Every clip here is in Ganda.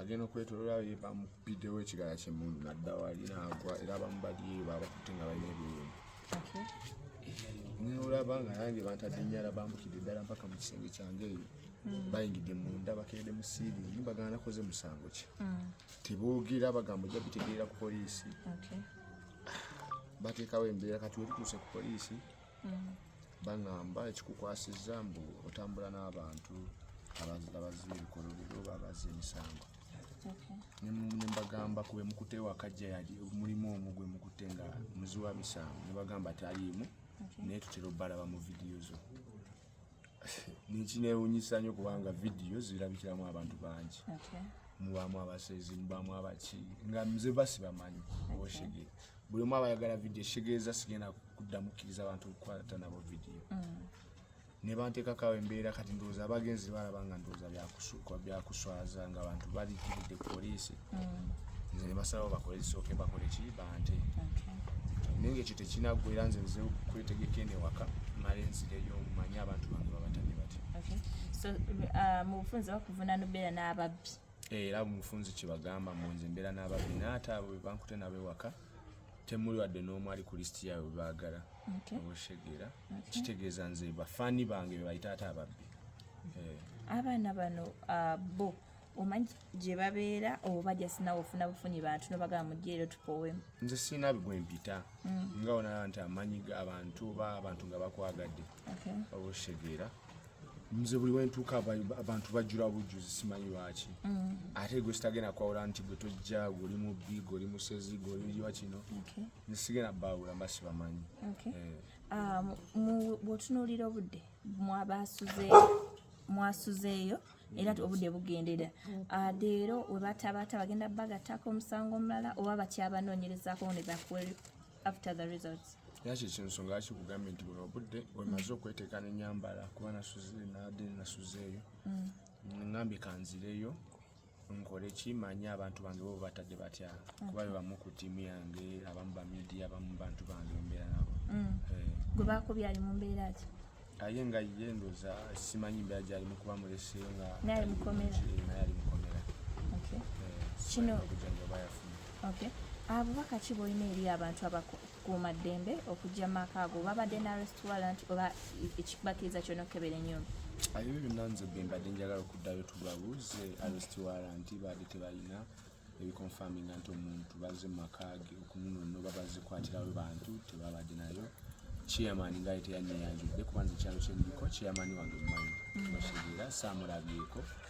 agenda okwetolola ye bamupiddewo ekigala kyemundu nadda wali naagwa era bamubadyeyo babakutte nga balina ebiwundu nolaba nga nange bantadde nyala bambukidde ddala mpaka mu kisenge kyange eyo hmm. bayingidde munda bakedde mu siiri ni bagana nakoze musango ki hmm. teboogera bagamba ojja bitegeera ku poliisi bateekawo embeera kati wetutuuse ku poliisi mm. baŋamba ekikukwasizza mbu otambula n'abantu abaziba ebikolobero oba abazza emisango nembagamba kuba emukute wakajja yali mulimu omu gwe mukute nga muzi wa misango nebagamba taliimu naye tutera obbalaba mu vidiyo zo nekinewunyisa nyo kubanga vidiyo zirabikiramu abantu bangi mubamu abasezi mubamu abaki nga mze basi bamanyi oshege buli omu abayagala vidiyo eshegeeza sigenda kuddamu kkiriza abantu okukwata nabo vidiyo mm. nebanteekakawo embeera kati ndowooza abagenzi balaba nga ndowooza byakusu kwa byakuswaza nga abantu bali kidde police mm. nze ne basalawo bakole kisooke bakole ki bante naye ngaekyo tekinaggwera nze nze kwetegeka eno ewaka male nzireyo manye abantu bange babatamye batya uh, mu bufunzi bakuvuna nobeera n'ababbi eh, era mufunzi kyebagamba mu nze mbeera n'ababbi naate abo bebankute nabo ewaka temuli wadde n'omu ali ku lisiti yaabwe bebaagala obushegeera kitegeeza nze bafaani bange bebayita ate ababbi abaana bano ah, bo omanyi gye babeera oba jasinawe ofuna bufunyi bantu nobagamba mujeero tupowemu nze sirina bigwe mpita mm. nga onaa nti amanyi abantu oba abantu nga bakwagadde oba okitegeera nze buli wentuuka abantu bajjula bujjuzi simanyi lwaki mm. ate gwe sitagenda kwawula nti gwe tojja gweoli mubbi gweoli musezi gweoliwa kino nze sigenda baawula mba sibamanyi eh. ah, bwotunuulira obudde mwasuzeeyo era obudde bugendera ah, leero webatabaata bagenda bagattako omusango omulala oba bakyabanoonyerezako ne bakweri after the results era kyekyo ensonga lwaki kugambye nti buno obudde wemaze okweteeka nenyambala kuba nasuze nade nasuzeeyo mm. ngambye kanzireyo nkole ki manyi abantu bange bo batadde batya kuba bebamu ku tiimu yange abamu bamidia abamu bantu bange mbeera nabo mm. eh. gwe bakubye ali mu mbeera ki aye nga ye ndoza simanyi mbeera gyalimu kuba mulese nga naye ali mukomera eh, kino obubaka ki bwolina eri abantu kuuma ddembe okujja maka ago babadde na restaurant oba ekibakiriza kyona okukebera enyumba ebyo byonna nze bembadde njagala okuddayo tubabuuze arestwarant baadde tebalina ebiconfaminga nti omuntu baze mumakaage okununono babazikwatirawe bantu tebabadde nayo chairman nga teyanyeyanjudde kubanza ekyalo kyendiko chairman wange mumanyi mm. bashegeera saamulabyeko mm.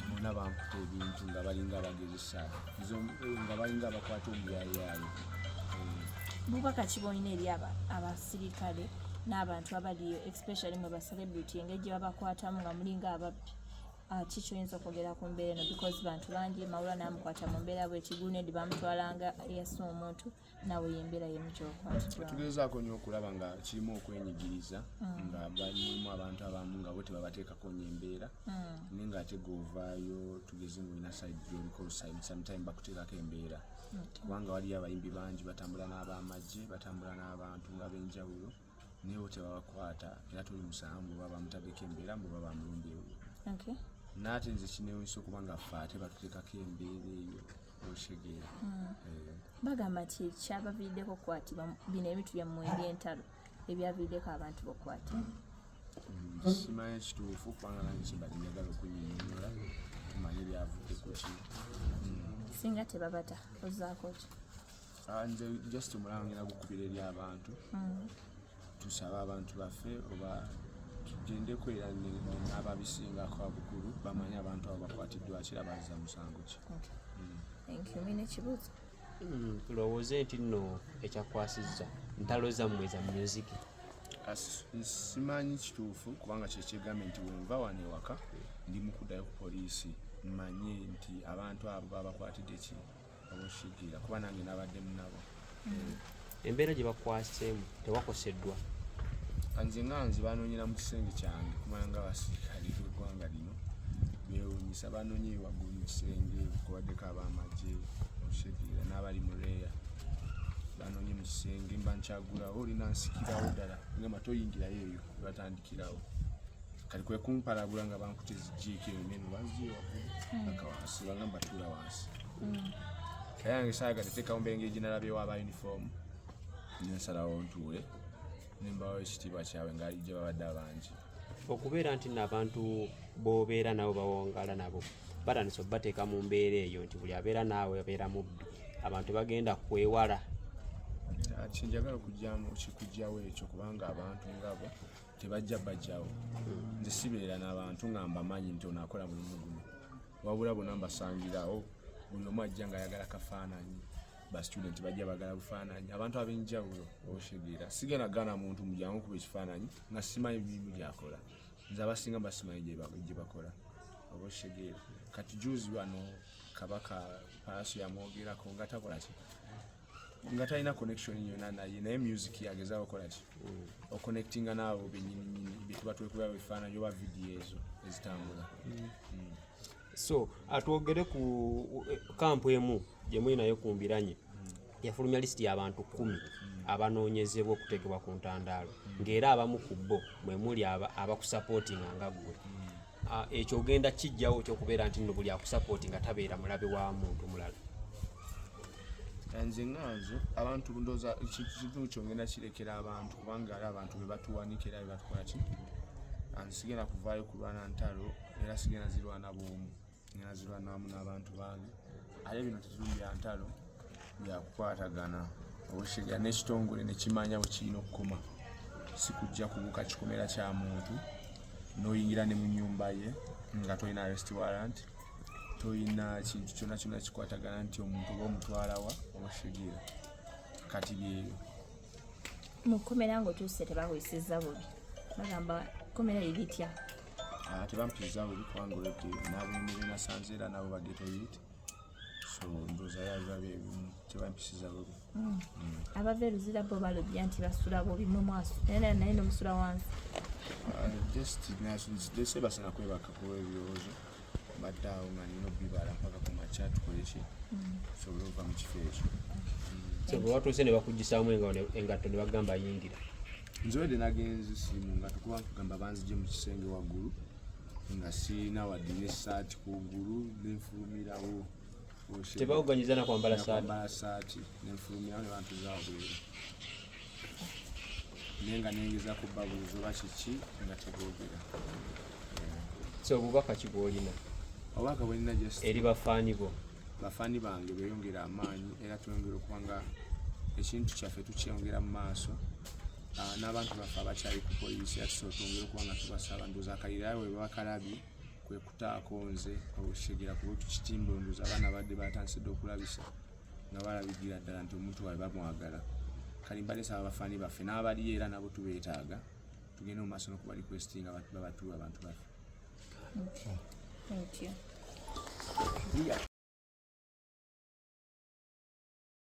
bona bankuta ebintu nga balinga abagezesa nga balinga abakwata omuyayaayo bubaka kibolina eri abasirikale n'abantu abaliyo especially mwe bacelebrity engeri gye babakwatamu nga mulinga ababbi Ah, ki kyoyinza okwogera ku mbeera eno because bantu bangi mawula namukwata mu mbeera bwekigundi bamutwalanga yasa omuntu nawe yembeera yemu kyokwatugezaako nyo okulaba nga kirimu okwenyigiriza mm. nga balimu abantu abamu nga bo tebabateekako nyo embeera mm. naye nga ate govaayo tugeze nga olina side gyolikolsaid sometime bakuteekako embeera kubanga waliyo abayimbi bangi batambula n'abamagye batambula n'abantu abenjawulo naye bo tebabakwata era tuli musango mbu baba bamutadeko embeera mbu baba bamulumbye okay. naate nze kinewunyisa okuba nga ffe ate batutekako embeera eyo okitegeera hmm. eh. bagamba nti kyabaviiriddeko okukwatibwa bino ebintu byammwe ebyentalo ebyaviiriddeko abantu bokukwata hmm, simanyi ekituufu kubanga nange kimbali njagala okunyinyola tumanye ebyavuddeko ki hmm. singa tebabata ozaako ki ah, nze just omulaba ngenda gukubira eri abantu mm. tusaba abantu baffe oba tugendeko era n'ababisingako abukulu bamanye abantu abo bakwatiddwa kira baza musango ki tulowooze nti nno ekyakwasizza ntalo zammwe za myuziki simanyi kituufu kubanga kyekyegambe nti wenva wano ewaka ndi mukuddayo ku poliisi mmanye nti abantu abo babakwatidde ki omushigira kuba nange nabadde munabo mm. embeera gye bakwaseemu tewakoseddwa nze nga nze banoonyera mu kisenge kyange kumala nga basirikale beggwanga lino bewunyisa banoonye waggulu mu kisenge kubaddeko abamagye omushigira n'abali mu reeya banoonye mu kisenge mba nkyagulawo olina nsikirawo ddala ngamba toyingirayo eyo batandikirawo kati kwe kumpalabula nga bankuta ezijiiko eyo neno banziyo hmm. aka wansi bangamba tuula wansi hmm. kaya yange saayagadde teekawo mbeera engeri gyenalabyewo aba yunifoomu nensalawo ntuule nembawo ekitiibwa kyabwe nga gye babadde abangi okubeera nti nabantu bobeera nabo bawangala nabo batandise obateeka mu mbeera eyo nti buli abeera naawe abeera mubbi abantu bagenda kwewala kyenjagala okujjamu kikujjawo ekyo kubanga abantu ngabo tebajja bajjawo nze sibeera n'abantu nga mbamanyi nti ono akola mulimu guno wabula bona mbasangirawo buli omu ajja nga ayagala kafaananyi bastudent bajja bagala bufaananyi abantu ab'enjawulo oshegera sigenda gana muntu mujangu kuba ekifaananyi nga simanyi bimu byakola nze abasinga basimanyi gye bakola oba oshegera kati juzi wano kabaka paaso yamwogerako nga takolaki nga talina connection yona naye naye music yageza okola ki mm. oconnectinga naabo benyininyini byetuba twekuba bifaananyi oba vidiyo ezo ezitambula mm. mm. so atwogere ku kampu emu gyemuli nayo ku mbiranye yafulumya lisiti y'abantu kumi abanoonyezebwa okuteekebwa ku ntandaalo ng'era abamu ku bo mwe muli abakusapootinga nga ggwe ah, ekyo ogenda kijjawo kyokubeera nti nno buli akusapootinga tabeera mulabe wa muntu mulala nze nga nze abantu ndoza kintu kyo ngenda kirekera abantu kubanga ali abantu be batuwanikira be batukola ki anze sigenda kuvaayo kulwana ntalo era sigenda zirwana bwomu ngenda zirwana wamu n'abantu bange ate bino tetuli bya ntalo byakukwatagana obushiga n'ekitongole nekimanya bwe kirina okukoma sikujja kubuka kikomera kya muntu n'oyingira ne mu nyumba ye nga tolina rest warrant tolina kintu kyona kyona kikwatagana nti omuntu oba omutwalawa obashigira kati byeyo mukomera nga otuuse tebakuyisiza bubi bagamba komera liritya ah, tebampisiza bubi kubanga olwedde nabemere nasanze era nabo bagetoyit so ndoza yabiba byebimu tebampisiza bubi mm. abava eruzira bo balobya nti basula bobi mwe mwasu naye naye naye nomusula wansi uh, just nase basala kwebaka kuba ebirowoozo mbadde awo nga nina obibala mpaka ku makya tukoleki tusobole mm. okuva mu kifo ekyo so bwe watuuse ne bakuggisaamu engatto ne bagamba yingira nzowedde nagenze simu nga tukuba kugamba banzije mu kisenge waggulu nga sirina wadde ne saati ku ggulu nenfulumirawo tebawuganyiza na kwambala saati nenfulumira ne bantu zabweru naye nga nengeza ku babuuza oba kiki nga tebogera so obubaka kibwolina obubaka bwolina eri bafaani bo bafaani bange beyongera amaanyi era tweyongera okuba nga ekintu kyaffe tukyeyongera mu maaso ah, n'abantu baffe abakyali ku polisi era tusobola twongera okuba nga tubasaba ndoza akalirawe babakalabye kwekutaako nze okukitegera kuba tukitimba ondoza abaana badde batansidde okulabisa nga balabigira ddala nti omuntu waabwe bamwagala kale mbadde saba bafaani baffe n'abaliyo era nabo tubeetaaga tugende mu maaso nokuba requesti nga babatuwa abantu baffe Thank you.